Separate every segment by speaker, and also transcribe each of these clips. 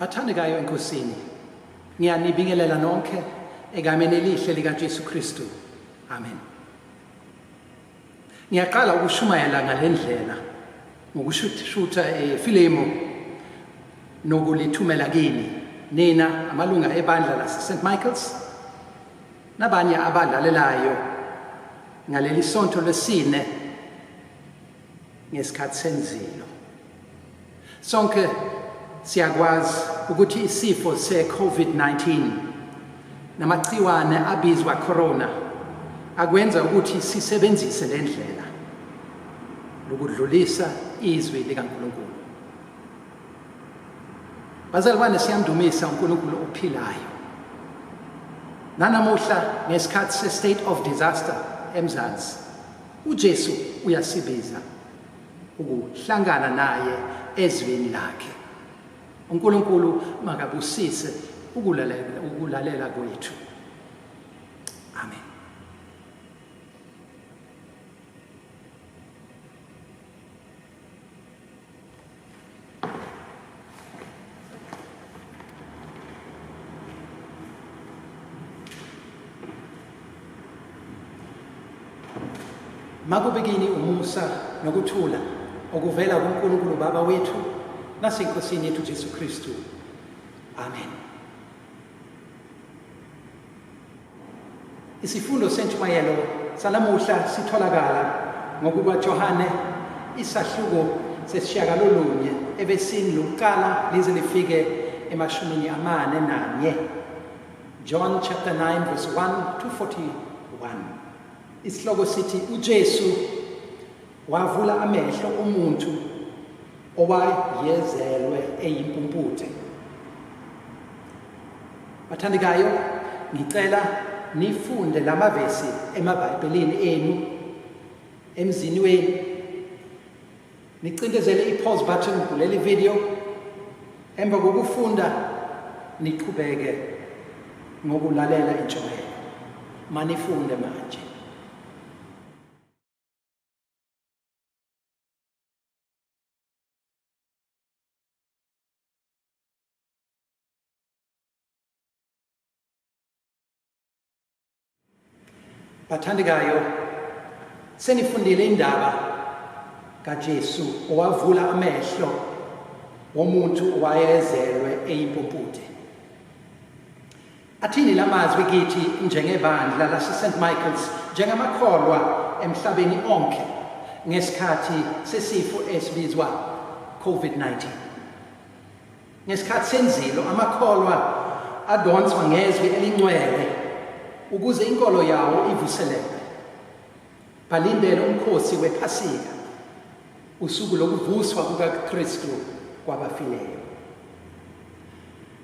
Speaker 1: Bathandekayo enkosini, ngiyanibingelela nonke egameni elihle likaJesu Kristu. Amen. Ngiyaqala ukushumayela ngale ndlela ngokushutha efilimu eh, nokulithumela kini nina amalunga ebandla lase-St Michael's Nabanye abalalelayo ngaleli sonto lesine ngesikhathi senzilo. Sonke siyakwazi ukuthi isifo se-COVID-19 namagciwane abizwa corona akwenza ukuthi sisebenzise le ndlela lokudlulisa izwi likaNkulunkulu. Bazalwane siyamdumisa uNkulunkulu ophilayo. Nanamuhla ngesikhathi se state of disaster eMzansi uJesu uyasibiza ukuhlangana naye ezweni lakhe. uNkulunkulu makabusise ukulalela ukulalela kwethu amen makube kini umusa nokuthula okuvela kuNkulunkulu Baba wethu naseNkosini yethu Jesu Kristu. Amen. Isifundo sentshumayelo salamuhla sitholakala ngokuba Johane isahluko sesishiyakalolunye ebesini lokuqala lize lifike emashumini amane nanye John chapter 9 verse 1 to 41 isihloko sithi uJesu Wavula amehlo umuntu owayezelwe eyimpumputhe. Bathandekayo, ngicela nifunde lamavesi emaBhayibhelini enu emzini wenu. Nicindezele i-pause button kuleli video emva kokufunda niqhubeke ngokulalela intshumayelo. Manifunde manje. bathandekayo senifundile indaba kaJesu owavula amehlo womuntu owayezelwe eyimpumputhe Athini la mazwi kithi njengebandla laseSt Michael's njengamakholwa emhlabeni onke ngesikhathi sesifo esibizwa COVID-19. Ngesikhathi senzilo amakholwa adonswa ngezwi elingcwele ukuze inkolo yawo ivuseleke. Balindele umkhosi wePhasika, usuku lokuvuswa kukaKristu kwabafileyo.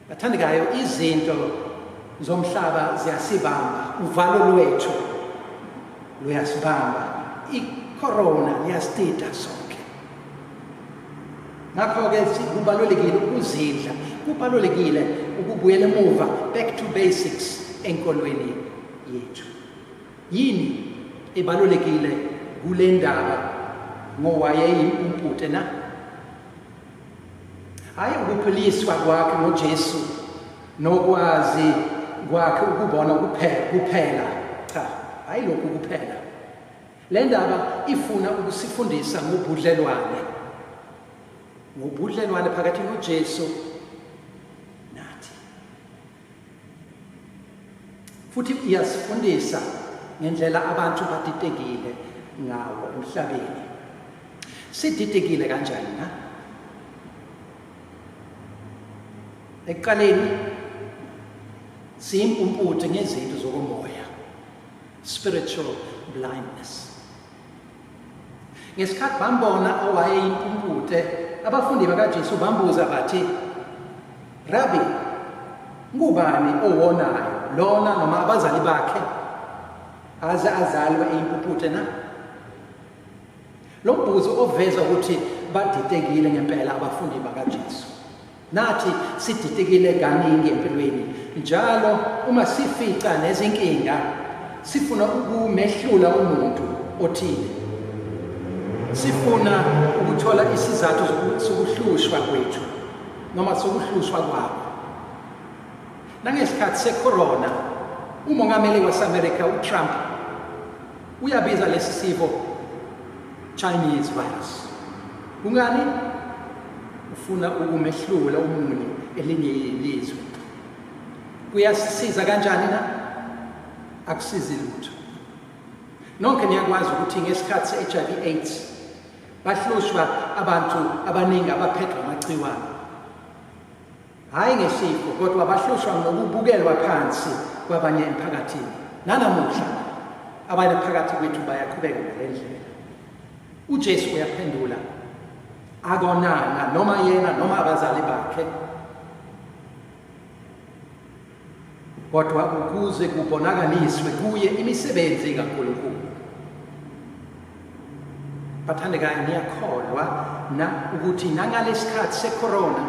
Speaker 1: Bathandekayo, izinto zomhlaba ziyasibamba, uvalo lwethu luyasibamba, icorona liyasitida sonke. Ngakho-ke kubalulekile ukuzidla, kubalulekile ukubuyela emuva, back to basics enkolweni yethu. Yini ebalulekile kule ndaba ngowayeyimpute na? Hhayi ukuphiliswa kwakhe ngoJesu nokwazi kwakhe ukubona kuphela cha hhayi lokhu kuphela le ndaba ifuna ukusifundisa ngobudlelwane ngobudlelwane phakathi noJesu futhi iyasifundisa ngendlela abantu baditekile ngawo emhlabeni siditekile kanjani na ekuqaleni siyimpumputhe ngezinto zokomoya spiritual blindness Ngesikhathi bambona owayeyimpungute, abafundi bakaJesu bambuza bathi, Rabbi, ngubani owonayo lona noma abazali bakhe aze azalwe eyimpuputhe na? Lo mbuzo oveza ukuthi badidekile ngempela abafundi bakaJesu. Nathi sididekile kaningi empilweni njalo uma sifica nezinkinga sifuna ukumehlula umuntu othile. Sifuna ukuthola isizathu sokuhlushwa kwethu noma sokuhlushwa kwabo. Nangesikhathi secorona umongameli waseMelika uTrump Uyabiza lesi sifo Chinese virus. Kungani? Ufuna ukumehlula umuntu elinye ilizwe. Kuyasisiza kanjani na? Akusizi lutho. Nonke niyakwazi ukuthi ngesikhathi se-HIV AIDS bahlushwa abantu abaningi abaphethwe amagciwane. hhayi ngesifo kodwa bahlushwa ngokubukelwa phansi kwabanye emphakathini nanamuhla abanye phakathi kwethu bayaqhubeka ngale ndlela ujesu uyaphendula akonanga noma yena noma abazali bakhe kodwa ukuze kubonakaliswe kuye imisebenzi kaNkulunkulu bathandekayo ngiyakholwa na ukuthi nangalesikhathi secorona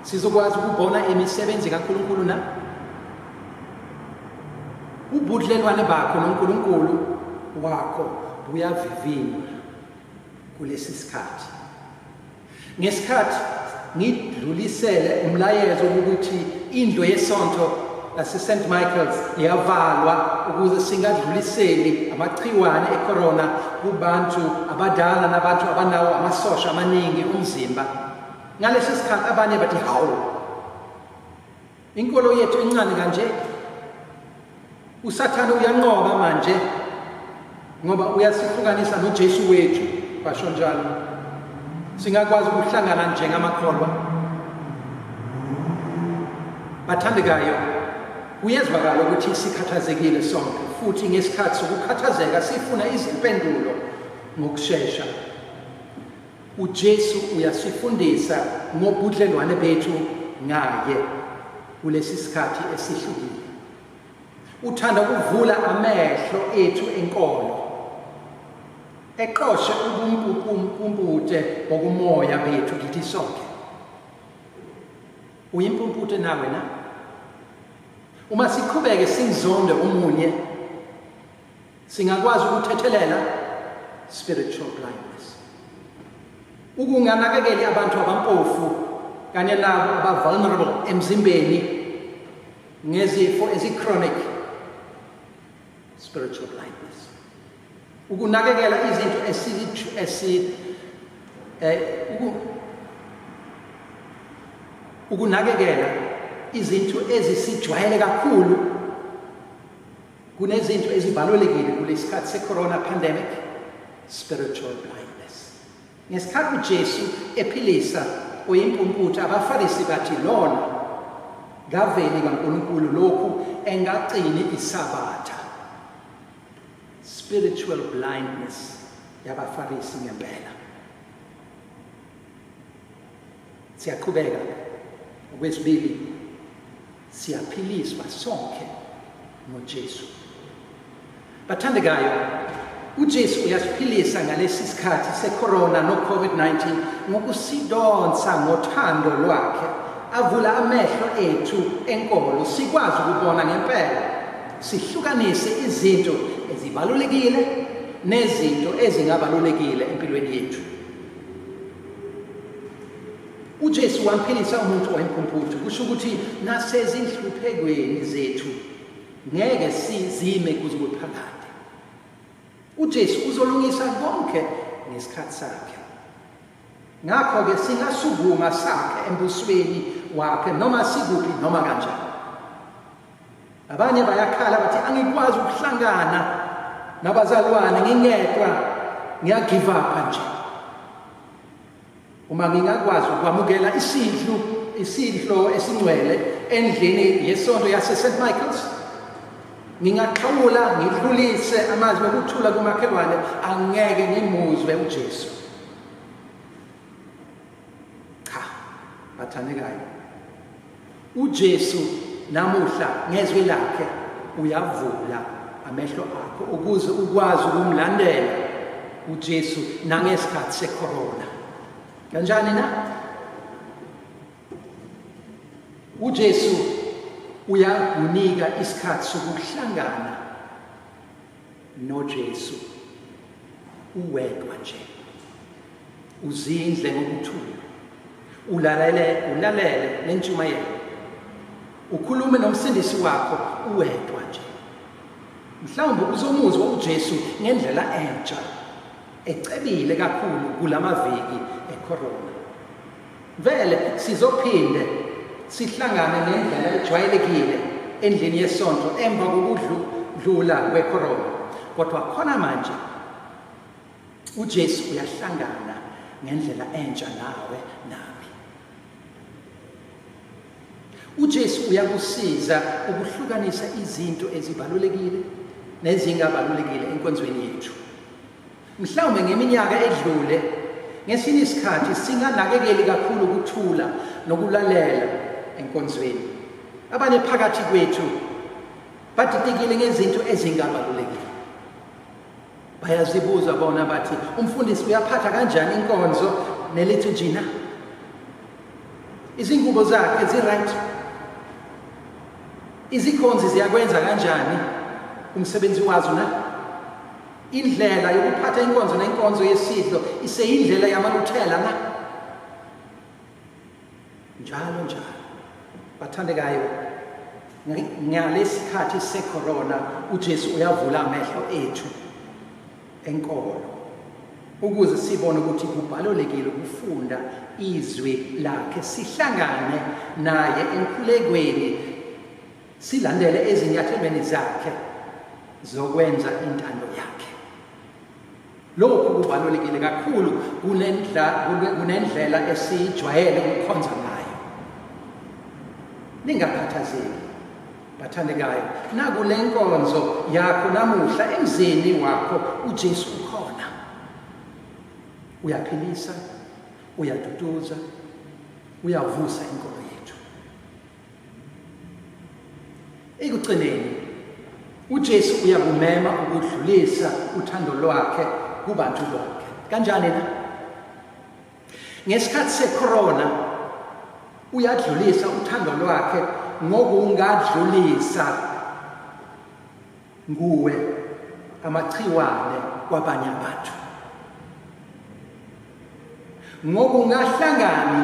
Speaker 1: sizokwazi ukubona imisebenzi kaNkulunkulu na ubudlelwane bakho noNkulunkulu wakho buyavivinywa kulesi sikhathi Ngesikhathi ngidlulisele umlayezo ukuthi indlu yesonto laseSt Michael's iyavalwa ukuze singadluliseli amagciwane ecorona kubantu abadala nabantu abanawo amasosha amaningi omzimba. Ngalesi sikhathi abanye bathi hawu Inkolo yethu incane kanje. USathane uyanqoba manje ngoba uyasihlukanisa noJesu wethu basho njalo. Singakwazi ukuhlangana njengamakholwa. Bathandekayo, kuyezwakala ukuthi sikhathazekile sonke futhi ngesikhathi sokukhathazeka sifuna izimpendulo ngokushesha. UJesu uyasifundisa ngobudlelwane bethu ngaye kulesi sikhathi esihlukile. Uthanda ukuvula amehlo ethu enkolo eqoshe ubumpumpute bokumoya bethu kithi sonke. Uyimpumpute nawe na? Uma siqhubeke sinzonde umunye Singakwazi ukuthethelela spiritual blindness. Ukunganakekeli abantu abampofu kanye nabo abavulnerable emzimbeni ngezifo ezichronic spiritual blindness. Ukunakekela izinto esilithi esi eh ukunakekela izinto ezisijwayele kakhulu Kunezinto ezibalulekile kulesikhathi secorona pandemic, spiritual blindness. Ngesikhathi uJesu ephilisa oyimpumputhe abaFarisi bathi lona ngaveli kaNkulunkulu lokhu engagcini isabatha. Spiritual blindness yabaFarisi ngempela. Siyaqhubeka okwesibili siyaphiliswa sonke ngoJesu. Bathandekayo, uJesu uyasiphilisa ngalesi sikhathi secorona no-COVID-19 ngokusidonsa ngothando lwakhe avula amehlo ethu enkolo sikwazi ukubona ngempela sihlukanise izinto ezibalulekile nezinto ezingabalulekile empilweni yethu uJesu wamphilisa umuntu wayemphumputhu kusho ukuthi nasezinhluphekweni zethu ngeke sizime kuze kube phakade uJesu uzolungisa konke ngesikhathi sakhe ngakho-ke singasukuma sakhe embusweni wakhe noma sikuphi noma kanjani Abanye bayakhala bathi angikwazi ukuhlangana nabazalwane ngingedwa ngiyagive up nje. Uma ngingakwazi ukwamukela isidlu isidlo esingcwele endlini yesonto yase St Michael's ngingaxhawula ngidlulise amazwi okuthula kumakhelwane angeke ngimuzwe uJesu. cha bathandekayo uJesu namuhla ngezwi lakhe uyavula amehlo akho ukuze ukwazi ukumlandela uJesu nangesikhathi secorona kanjani na uJesu uyakunika isikhathi sokuhlangana noJesu uwedwa nje uzindle ngokuthula ulalele ulalele nentshumayelo ukhulume nomsindisi wakho uwedwa nje mhlawumbe uzomuzwa uJesu ngendlela entsha ecebile kakhulu kulamaviki ecorona Vele sizophinde sihlangane ngendlela ejwayelekile endlini yesonto emva kokudlula kwekhorona kodwa khona manje uJesu uyahlangana ngendlela entsha nawe nami uJesu uyakusiza ukuhlukanisa izinto ezibalulekile nezingabalulekile enkonzweni yethu Mhlawumbe ngeminyaka edlule ngesinye isikhathi singanakekeli kakhulu ukuthula nokulalela enkonzweni. Abanye phakathi kwethu badidekile ngezinto ezingabalulekile. Bayazibuza bona bathi umfundisi uyaphatha kanjani inkonzo nelithi jina. Izingubo zakhe ziright. Izikhonzi ziyakwenza kanjani umsebenzi wazo na? Indlela yokuphatha inkonzo nenkonzo yesidlo iseyindlela yamaluthela na? Njalo njalo. Bathandekayo, ngalesikhathi secorona uJesu uyavula amehlo ethu enkolo ukuze sibone ukuthi kubalulekile ukufunda izwi lakhe sihlangane naye enkhulekweni silandele ezinyathelweni zakhe zokwenza intando yakhe lokhu kubalulekile kakhulu kunendlela esiyijwayele ukukhonza ngayo ningakhathazeki bathandekayo nakule nkonzo yakho namuhla emzini wakho ujesu ukhona uyaphilisa uyaduduza uyavusa inkolo Ekugcineni uJesu uyakumema ukudlulisa uthando lwakhe kubantu bonke. Kanjani na? Ngesikhathi secorona uyadlulisa uthando lwakhe ngokungadlulisa nguwe amachiwane kwabanye abantu ngoba ungahlangani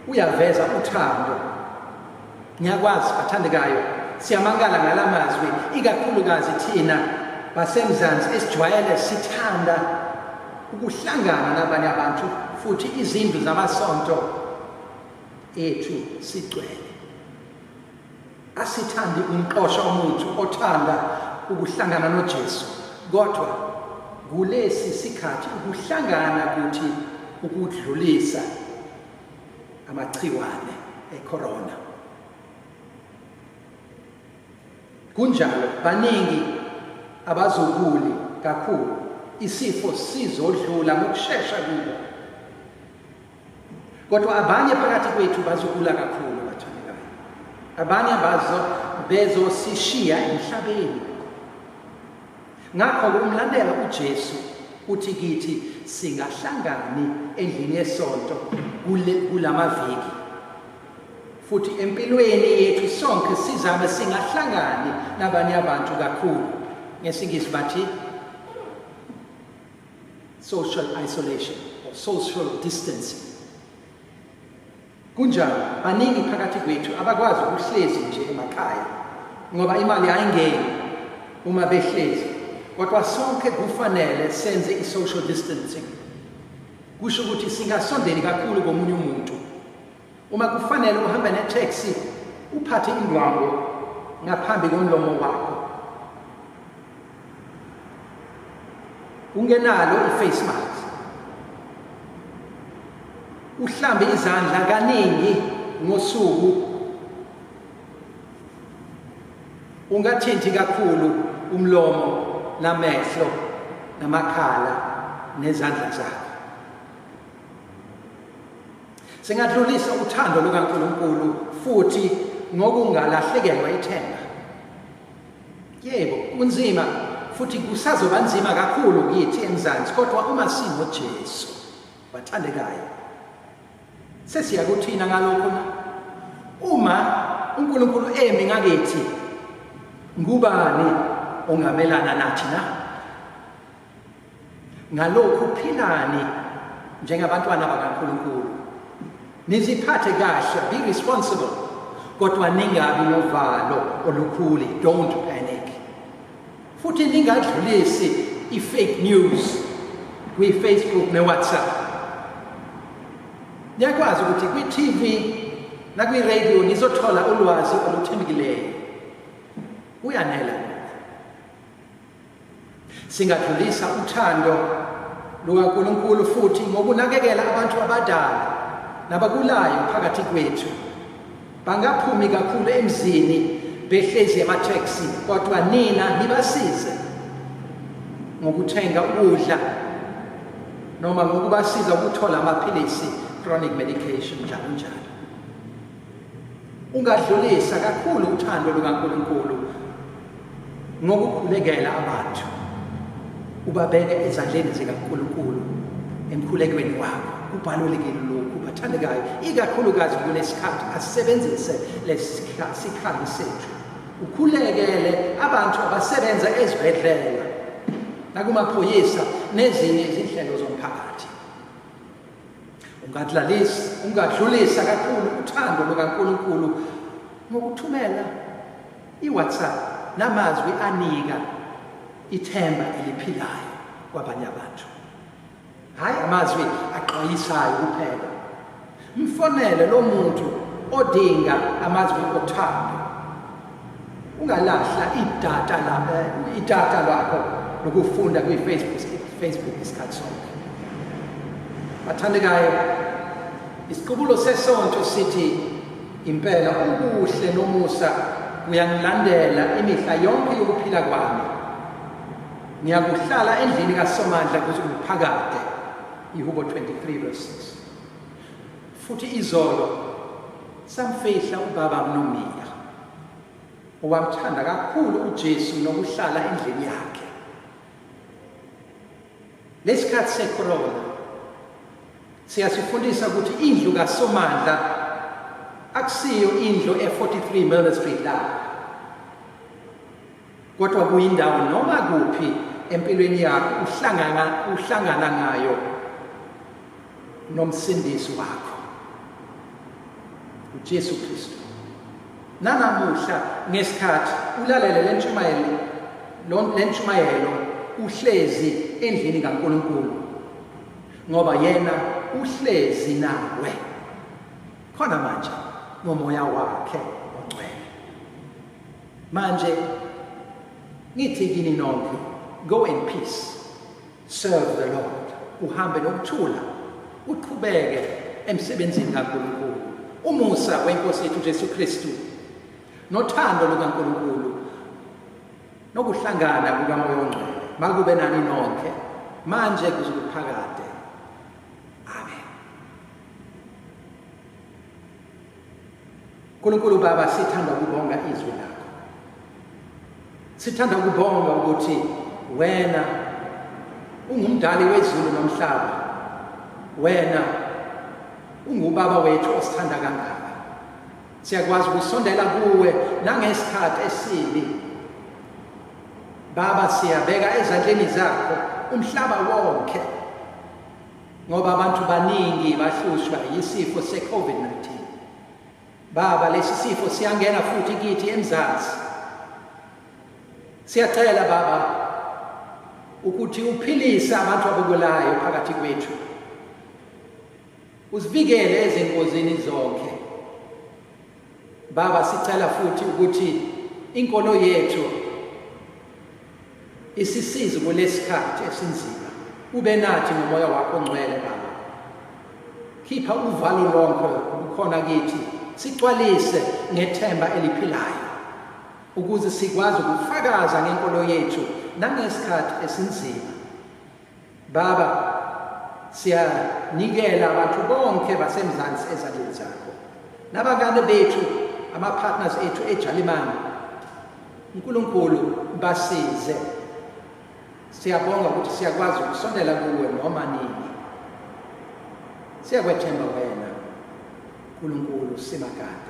Speaker 1: uyaveza uthando ngiyakwazi bathandekayo siyamangala ngala mazwi ikakhulukazi thina basemzansi esijwayele sithanda ukuhlangana nabanye abantu futhi izindlu zamasonto ethu sigcwele Asithandi umqosha omuntu othanda ukuhlangana noJesu, kodwa kulesi sikhathi ukuhlangana kuthi ukudlulisa amagciwane ecorona. Kunjalo baningi abazokuli kakhulu isifo sizodlula ngokushesha kubo. Kodwa abanye phakathi kwethu bazogula kakhulu abathandekayo. Abanye bazo bezosishiya emhlabeni. Ngakho kumlandela uJesu uthi kithi singahlangani endlini yesonto kulamaviki futhi empilweni yethu sonke sizame singahlangani nabanye abantu kakhulu ngesingisi bathi social isolation or social distancing kunjalo baningi phakathi kwethu abakwazi ukuhlezi nje emakhaya ngoba imali ayingeni uma behlezi kodwa sonke kufanele senze i-social distancing kusho ukuthi singasondeli kakhulu komunye umuntu Uma kufanele uhambe netaxi uphathe indwangu ngaphambi komlomo wakho. Ungenalo i-face mask. Uhlambe izandla kaningi ngosuku. Ungathinti kakhulu umlomo namehlo namakhala nezandla zakho. Singadlulisa uthando lukaNkulunkulu futhi ngokungalahlekelwa ithemba. Yebo, kunzima futhi kusazoba nzima kakhulu kithi eMzansi kodwa uma sinoJesu bathandekayo sesiya kuthina ngalokho na uma uNkulunkulu emi ngakithi ngubani ongamelana nathi na Ngalokhu philani njengabantwana bakaNkulunkulu. Niziphathe kahle, be responsible. Kodwa ningabi novalo olukhuli, don't panic. Futhi ningadlulisi i-fake news kwi-Facebook ne-WhatsApp. Niyakwazi ukuthi kwi-TV nakwi-radio nizothola ulwazi oluthembekileyo. Uyanela. Singadlulisa uthando lukaNkulunkulu futhi ngokunakekela abantu abadala nabagulayo phakathi kwethu. Bangaphumi kakhulu emzini behlezi ematheksi kodwa nina nibasize ngokuthenga ukudla noma ngokubasiza ukuthola amaphilisi chronic medication njalo njalo. Ungadlulisa kakhulu uthando lukaNkulunkulu ngokukhulekela abantu ubabeke ezandleni zikaNkulunkulu emkhulekweni wakho kubalulekile lokhu bathandekayo ikakhulukazi kulesikhathi asisebenzise lesikhathi sethu ukhulekele abantu abasebenza ezibhedlela nakumaphoyisa nezinye izinhlelo zomphakathi ungadlalisi ungadlulisa kakhulu uthando lukaNkulunkulu ngokuthumela iWhatsApp namazwi anika ithemba eliphilayo kwabanye abantu hayi amazwi aqwayisayo kuphela mfonele lo muntu odinga amazwi othando Ungalahla idata lapho idata lakho lokufunda kwi Facebook Facebook isikhathi sonke. Bathandekayo isiqubulo sesonto sithi impela ubuhle nomusa kuyangilandela imihla yonke yokuphila kwami. Ngiyakuhlala endlini kaSomandla kuze kuphakade. Ihubo 23 verse 6. Futhi izolo samfihla ubaba mnomia owamthanda kakhulu uJesu nokuhlala endlini yakhe. Lesikhathi secorona siyasifundisa ukuthi indlu kaSomandla akusiyo indlu e43 Murray Street la. Kodwa kuyindawo noma kuphi empilweni yakho uhlangana uhlangana ngayo nomsindisi wakho uJesu Kristu nanamuhla ngesikhathi ulalele lentshumayelo lentshumayelo uhlezi endlini kaNkuluNkulu ngoba yena uhlezi nawe khona manje ngomoya wakhe Manje ngithi kini nonke go in peace serve the Lord uhambe nokuthula uqhubeke emsebenzini kaNkulunkulu umusa wenkosi yethu Jesu Kristu nothando lukaNkulunkulu nokuhlangana kukamoya ongcwele makube nani nonke manje kuze kuphakade Nkulunkulu Baba sithanda ukubonga izwi lakho. Sithanda ukubonga ukuthi wena ungumdali wezulu nomhlaba. Wena ungubaba wethu osithanda kangaka. Siyakwazi ukusondela kuwe nangesikhathi esibi. Baba siyabeka ezandleni zakho umhlaba wonke. ngoba abantu baningi bahlushwa yisifo se-COVID-19. Baba, lesi sifo siyangena futhi kithi eMzansi. Siyacela Baba ukuthi uphilise abantu abagulayo phakathi kwethu. Usivikele ezingozini zonke. Baba sicela futhi ukuthi inkolo yethu isisize kulesikhathi esinzima ube nathi ngomoya wakho ongcwele baba khipha uvalo lonke ukhona kithi sicwalise ngethemba eliphilayo ukuze sikwazi ukufakaza ngenkolo yethu nangesikhathi esinzima Baba, siyanikela abantu bonke baseMzansi ezandleni zakho nabangane bethu ama-partners ethu ejalimane unkulunkulu basize siyabonga ukuthi siyakwazi ukusondela kuwe noma nini siyakwethemba wena nkulunkulu simakade